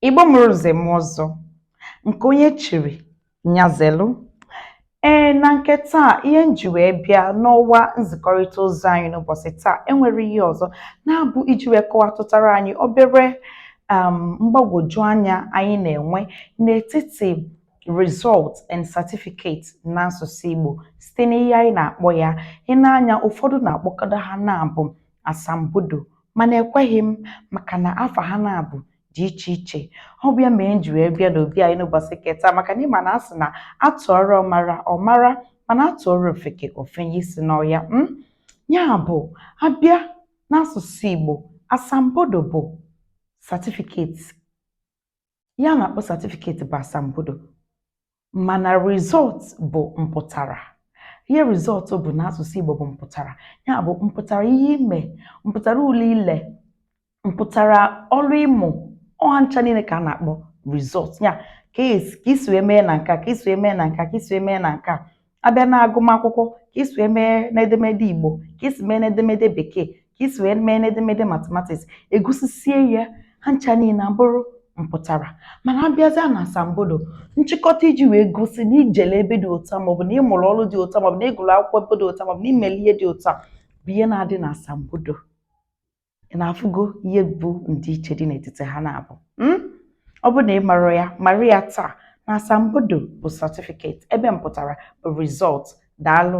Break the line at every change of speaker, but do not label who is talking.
Igbo mụrụ nze mụọ ọzọ nke onye chiri nya zelu ee na nke taa ihe m ji wee bịa n'ọwa nzikọrịta ozi anyị n'ụbọchị taa enwere ihe ọzọ na-abụ iji wee kọwatụtara anyị obere um, mgbagwoju anya anyị na-enwe n'etiti result and certificate n'asụsụ Igbo site n'ihe anyị na-akpọ ya ị na-anụ ya ụfọdụ na-akpọkọta ha naabọ asambodo mana ekweghị m maka na afa ha naabọ dị iche iche ọ bụ ya mere m ji wee bịa n'obi anyị n'ụbọchị ke taa maka na ị ma na a sị na a tụọrọ ọmara ọ mara mana a tụọrọ ofeke o fenye isi n'ọhịa m hmm? ya bụ a bịa n'asụsụ Igbo asambodo bụ certificate ihe a na-akpọ certificate bụ asambodo mana result bụ mpụtara ihe result bụ n'asụsụ Igbo bụ mpụtara ya bụ mpụtara ihe i me mpụtara ule i le mpụtara ọrụ ị mụ ọ ha ncha niile ka a na-akpọ result ya ka i si wee mee na nke a ka i si wee mee na nke a ka i si wee mee na nke a a bịa n'agụmakwụkwọ ka i si wee mee n'edemede Igbo ka i si mee n'edemede Bekee ka i si wee mee n'edemede mathematics e gosisie ya ha ncha niile abụrụ mpụtara mana a bịazịa na asambodo nchịkọta iji wee gosi na i jele ebe dị otu a maọbụ na ị mụrụ ọrụ dị otu a maọbụ na ị gụrụ akwụkwọ ebe dị otu a maọbụ na i meli ihe dị otu a bụ ihe na-adị na asambodo ị na-afụgo ihe bụ ndịiche dị n'etiti ha naabọ hmm? ọ bụ na ị marọ ya mara ya taa na asambodo bụ certificate ebe mpụtara bụ result daalụ